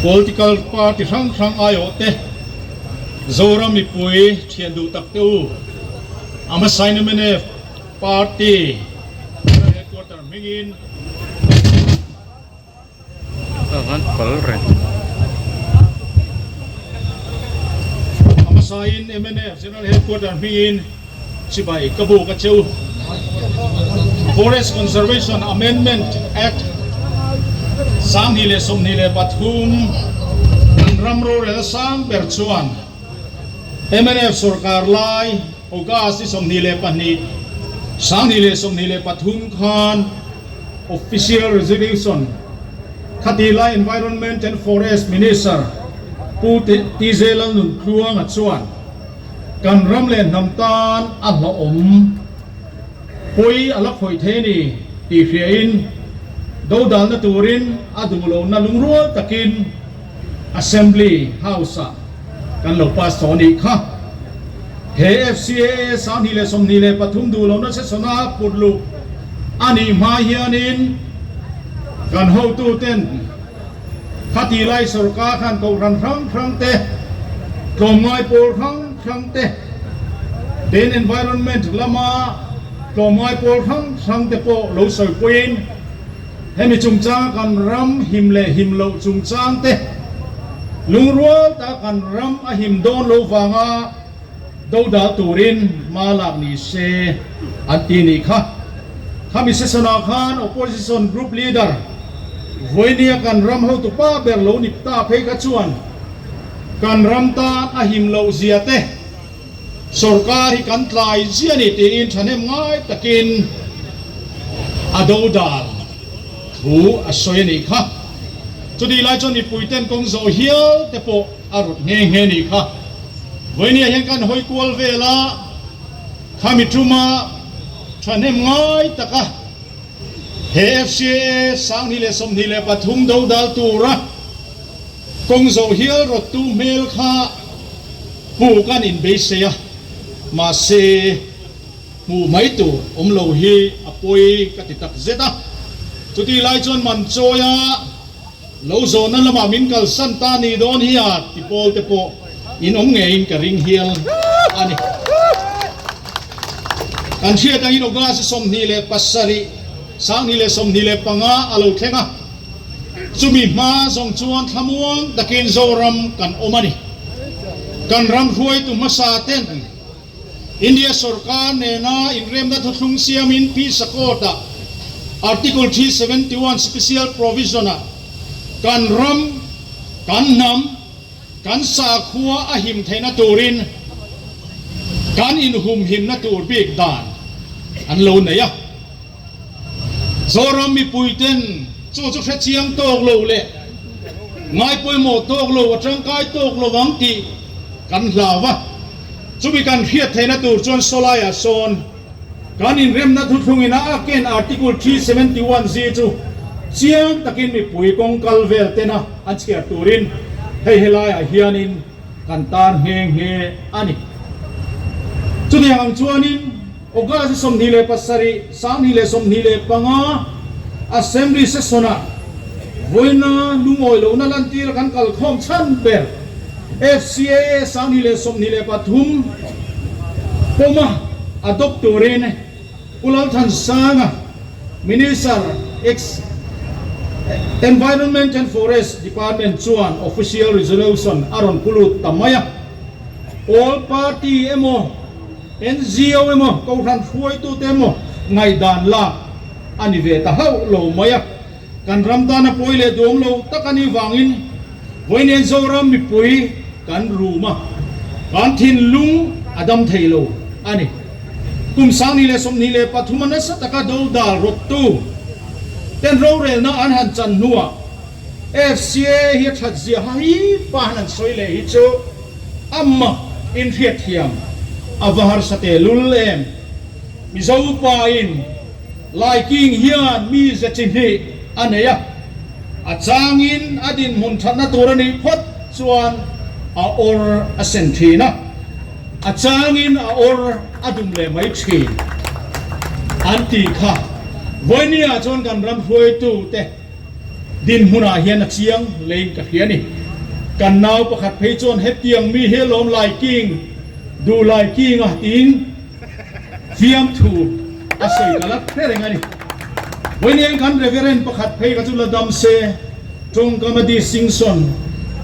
Political party hrang hrang aiawh te, Zoram mipui thian duh tak te u, ama saina mnf party general headquarter hmingin ama sain mnf general headquarter hmingin. Chibai ka buk a che u. Forest Conservation Amendment Act sanghnih leh sawmhnih leh pathum in ram rorel a sang ber chuan mnf sawrkar lai August i sawmhnih leh pahnih sanghnih leh sawmhnih leh pathum khan Official Resolution Khati lai Environment and Forest Minister Pu T J Lalnuntluanga chuan kan ram leh hnam tan a hlauhawm pawi a la khawih thei a ni tih hriain dodalna turin a duhlona lungrual takin Assembly House-ah kan lo pass tawh a nih kha. He FCAA sanghnih leh sawmhnih leh pathum duhlona session-a put luh a nih hmai hianin kan hotuten, Khati lai sorkar khan Kohhran hrang hrang te, tlawmngai pawl hrang hrang te, Ten Environment lama tlawmngai pawl hrang hrang te pawh lo sawi pawhin hemi chungchanga kan ram him leh him loh chungchang te lungrual ta kan ram a him dawn lo vanga Do dal turin hma lak ni se an ti ni kha. Khami sesona khan opposition group leader Voinia kan ram hotu pa ber lo ni ta phei kha chuan kan ram tan a him loh zia te sorkar hi kan tlai zia ni tiin thahnem ngai takin a do dal thu a sawi a ni kha. Chutih lai chuan mipui ten kawng zawh hial te pawh A rut nghe nghe nih kha vawinia hian kan hawi kual vel a, khami tuma thahnem ngai taka he FCAA sanghnih leh sawmhnih leh pathum do dal tura kawng zo hial rawttu hmel kha hmuh kan inbeisei a, mahse hmuh mai tur awm lo hi a pawi ka ti takzet a, chutihlai chuan man chawi a. Lo zawhna lamah min kalsan ta ni dawn hia ti pawl te pawh in awm ngeiin ka ring hial a ni. Kan hriat angin August sawmhnih leh pasarih, sanghnih leh sawmhnih leh panga a lo thleng a. Chumi hma zawng chuan thlamuang takin Zoram kan awm a ni. Kan ram hruaitu hmasa ten. India sorkar nena inremna thuthlung siamin Peace Accord ah Article three seventy one Special Provision ah kan ram, kan hnam, kan sakhua a him theihna turin kan inhumhimna tur bik dan an lo neih a. Zoram mipui ten chu chu hrechiang tawk lo leh ngai pawimawh tawk lo, a tangkai tawk lo ang tih kan hlau a. Chumi kan hriat theihna tur chuan saw laiah sawn kan inremna thuthlungin a ak in Article three seventy one Z chu chiang takin mipui kawng kal vel tena an chhiar turin hei he laiah hianin kan tar nghe nghe a ni. Chutiang ang chuanin. August sawmhnih leh pasarih, sanghnih leh sawmhnih leh panga Assembly session-ah vawiina lungawi lohna lantir a kan kalkhawm chhan ber. FCAA sanghnih leh sawmhnih leh pathum pawma a Doctoreen Pu Lalthansanga, Minister ex Environment and Forest Department chuan Official Resolution a rawn pu lut ta mai a. All party emaw. NGO emaw kohhran hruaitute emaw ngaihdan lak a ni ve ta hauh lo mai a, kan ram tana pawi leh duam lo tak a nih vangin vawi nen Zoram mipui kan rum a, kan thinlung a dam thei lo a ni. Kum Sangni leh Sawmhnih leh pathuma nasa taka dodal rawttu ten rorelna an han chan hnuah, FCA hi a that ziaha hi pan an sawi leh hi chu ama in hriatthiam a va harsa teh lul em? Mizo pa in Laiking hian mi ze chi hnih a nei a, a changin a dinhmun thatna tur a nih phawt chuan a awr a sen thin a, a changin a awr a dum leh mai thin an ti kha. Vawini ah chuan kan ram hruaitute. Din hmunah hian a chiang leiin ka hria ni. Kan nau pakhat phei chuan hetiang mi hi a lawm lai king, duh lai king a tiin fiamthu a sawi ka la hre reng a ni. Vawiiniain kan Reverend pakhat phei kha chu la dam se, tawngkama Distinction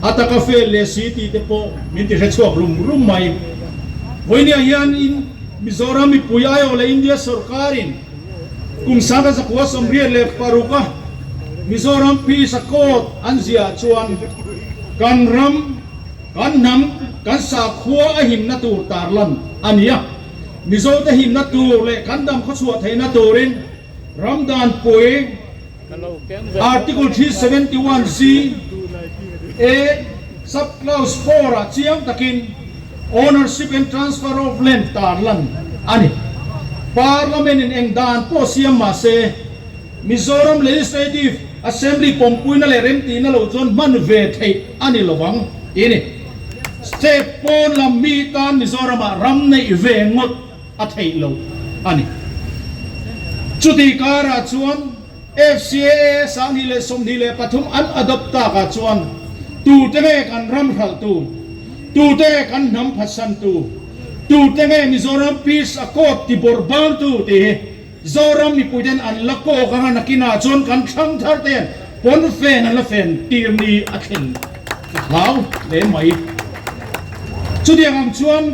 a taka fel leh si tih te pawh min ti hre chhuak rum rum mai. Vawiinia hian in Mizoram mipui aiawh leh India sorkarin, Kum sangka zakua sawmriat leh paruk a Mizoram Peace Accord an ziah chuan kan ram, kan hnam, kan sakhua a himna tur tarlan a ni a. Mizote himna tur leh kan dam khawchhuah theihna turin ramdanpui, Article three seventy one C, A, Sub clause four ah chiang takin Ownership and Transfer of Land tar lan a ni. Parliament in eng dan pawh siam mah se, Mizoram Legislative Assembly pawmpuina leh remtihna lo chuan hman ve theih a ni lo vang tih a ni. State pawn lam mi tan Mizoram ah ram neih ve ngawt. a theih loh a ni. Chuti karah chuan FCAS ah ni leh sawmhnih leh pathum an adopt tak ah chuan tute nge kan ram hralhtu, tute nge kan hnam phatsantu, tute nge Mizoram Peace Accord tibawrh bangtu tih hi Zoram mipuite'n an la kawk anga nakinah chuan kan thlangtharte hian pawnfen an la fen tir ni a thleng hlau hle mai. Chutiang ang chuan.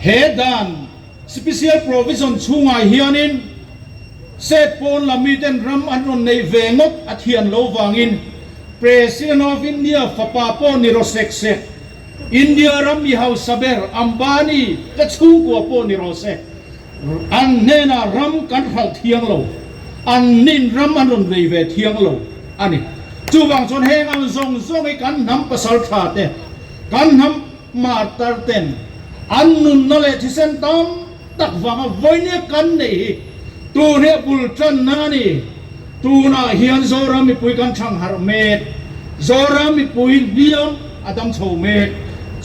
He dan Special Provision chhungai hianin State pawn lam miten ram an rawn neih ve ngawt a thian lo vangin President of India fapa pawh ni rawh sek sek, India ram mi hausa ber Ambani te chhungkua pawh ni rawh sek, an hnenah ram kan hralh thiang lo, an nin ram an rawn nei ve thiang lo a ni. Chuvang chuan heng ang zawng zawng hi kan hnam pasaltha te, kan hnam. Martar ten an nunna leh thisen tam tak vanga vawinia kan neih hi tun hi a bul tanna a ni. Tunah hian Zoram mipui kan chhang harh met, Zoram mipui hliam a dam chho met.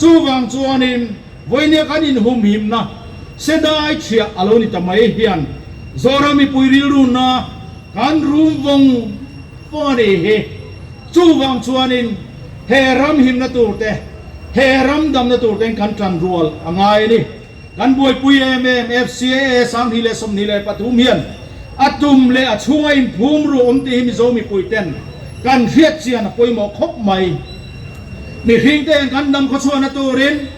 Chuvang chuanin vawinia kan inhumhimna Sedai chhia a lo ni ta mai hian Zoram mipui rilrunna kan rumvawng vawng a ni hi. Chuvang chuanin he ram himna turte, he ram damna turten kan tan rual a ngai a ni. Kan buaipui em em FCAA sam hnih leh sawmhnih leh pathum hian a tum leh a chhung a inphum ru awm tih hi Mizo mipuiten kan hriatchian a pawimawh khawp mai. Mihringte hian kan dam khawchhuahna turin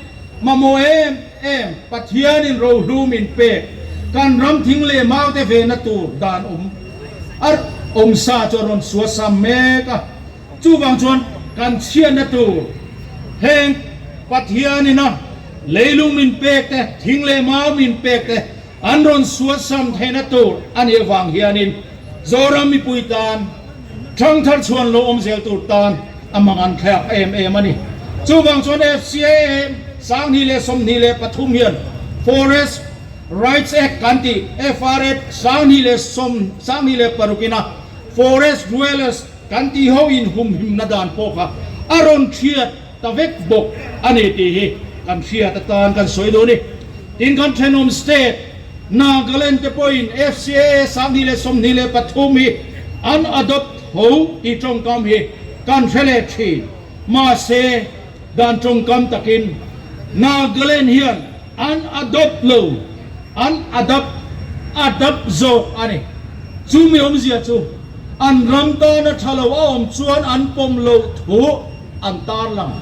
mamawh em. Em Pathianin rohlum in pek kan ram thing leh maute ve na tur dan awm arh awm sa chuan rawn suasam mek a, chuvang chuan kan chhiat na tur heng Pathianin a leilung min pek te thing leh mau min pek te an rawn suasam theih na tur anih avang hianin Zoram mipui tan, Thangthar chhuan lo awm zel tur tan a hmang an thlaiak em em a ni. Chuvang chuan FCAM sanghnih leh sawmhnih leh pathum hian Forest Rights Act kan ti, FRAP sanghnih leh sawm, sanghnih leh paruk ina Forest Dwellers kan ti ho inhumhimna dan pawh kha a rawn thiat. ta vek bawk a ni tih hi kan hriat atan kan sawi dun i tin kan thenawm state Nagaland te pawhin FCA sahni leh sawmhnih leh pathum hi an adopt tho tih tawngkam hi kan hre leh thin. Mahse dan tawngkam takin Nagaland hian an adopt lo, an adapt, adapt, zawk a ni. Chu mi awmzia chu an ram tana tha lo a awm chuan an pawm loh thuh. an tarlang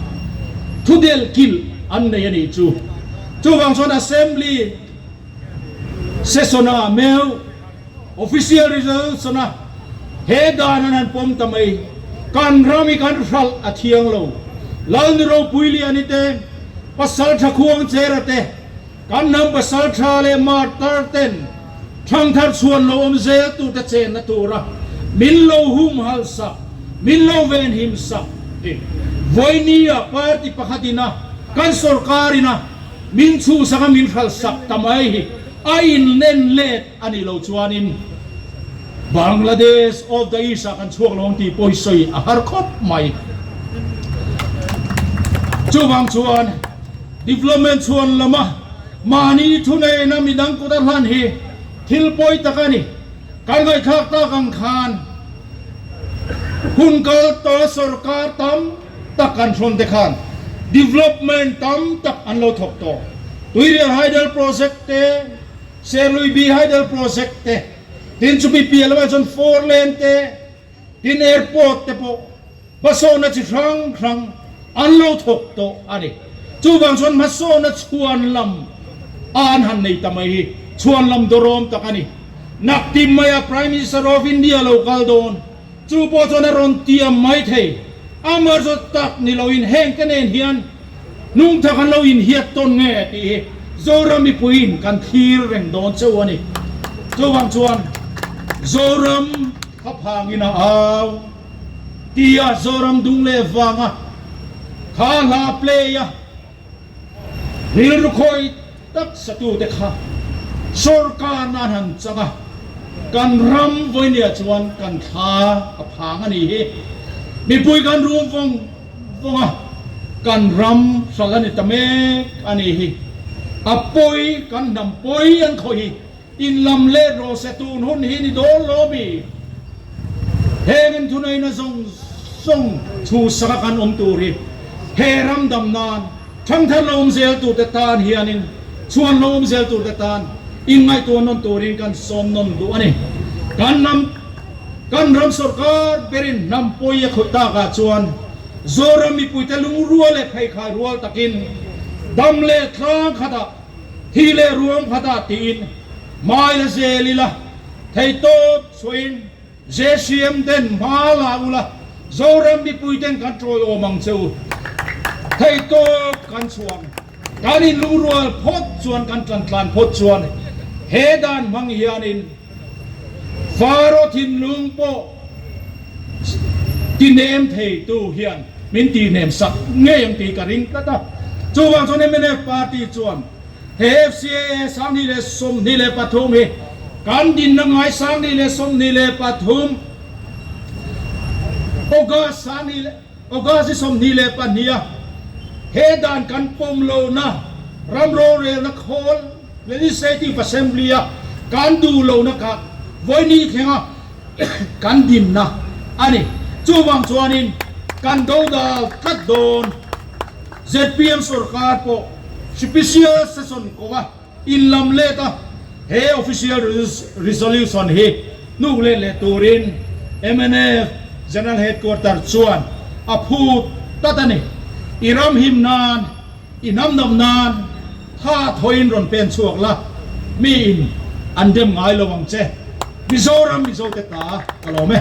thudel kilh an nei a nih chu. Chuvang chuan Assembly session-a meuh official results-ana he dan an han pawm ta mai. Kan ram hi kan hralh a thiang lo. Lalni Ropui Liani te, Pasalṭha Khuangchera te, Kan hnam pasal tha leh martar ten thangthar chhuan lo awm zel tur te chenna tura min lo hum hal sak, min lo ven him sak tih Voinia party pakhat in a kan sorkar in a min chhu sak a min hral sak ta mai hi a in en let a nih lo chuan in Bangladesh of the East ah kan chhuak lo ang tih pawh sawi a har khawp mai. Chuvang chuan. Development chuan lama mahni thuneihna midang kut a hlan hi thil pawi tak a ni. Kan ngaihthlak tak ang khan hun kal tawh sorkar tam tak an hrawn te khan development tam tak an lo thawk tawh. Tuirial Hydel Project te, Serluibi Hydel Project te, tin chu Bipialama chuan four lane te, Tin airport te pawh hmasawhna chi hrang hrang an lo thawk tawh a ni. Chuvang chuan hmasawhna chhuan lam a an han nei ta mai hi chhuan lam dawrawm tak a ni. Nakti mai a Prime Minister of India lo kal dawn. Chu pawh chuan a rawn tiam mai thei. Amar zawt tak ni lo in heng te nen hian hnungtha kan lo inhiat tawn nge tih hi Zoram mipuiin kan thlir reng dawn cheu a ni. Chuvang chuan Zoram. Kha phang in a au ti a Zoram Dung leh vang a kha hla play a rilru khawi taksa tu te kha sorkar na han chang a kan ram vawi nia chuan kan thla a phang a nih hi mipui kan rum vawng vawng a kan ram hral a ni ta mek a nih hi a pawi kan hnam pawi an khawi hi. In lam let rawh se tun hun hi ni dawl lo mi heng in thunei na zawng zawng thu saka kan awm tur hi he ram dam nan thang thar lo awm zel tur te tan hian in chuan lo awm zel tur te tan in ngaihtuah nawn tur in kan sawm nawn duh a ni kan ram kan ram sawrkar ber in hnam pawi a khawih tak ah chuan Zoram mipui te lungrual leh pheikhai rual tak in dam leh tlang khat ah Hi leh ruang kha dah tiin hmai la zel ila, thei tawp chhuahin JCM den hma la ula, Zoram mipui ten kan tawiawm ang che u. Thei tawp kan chhuah ang. Kan inlungrual phawt chuan kan tantlan phawt chuan he dan hmang hianin, Faro thinlung pawh ti nem thei tu hian min ti nem sak ngei ang tih ka ring tlat a. Chuvang chuan mnf party chuan he FCAA sanghnih leh sawmhnih leh pathum hi kan dinna ngai sanghnih leh sawmhnih leh pathum, August sanghnih leh. August i sawmhnih leh pahnih a he dan kan pawm lohna ram rorelna khawl Legislative Assembly a kan duh lohna kha vawinih thlenga kan dinna a ni. Chuvang chuanin kan dodal tlat dawn ZPM sawrkar pawh hripishial se sawn kawng a. In lam let a, he official resolution hi hnuk let leh turin MNF General Headquarter chuan a phut tlat a ni. I ram him nan, i hnamdawm nan tha thawiin rawn pen chhuak la, mi in an dem ngai lo ang che. Mizoram Mizote ta ka lawm e.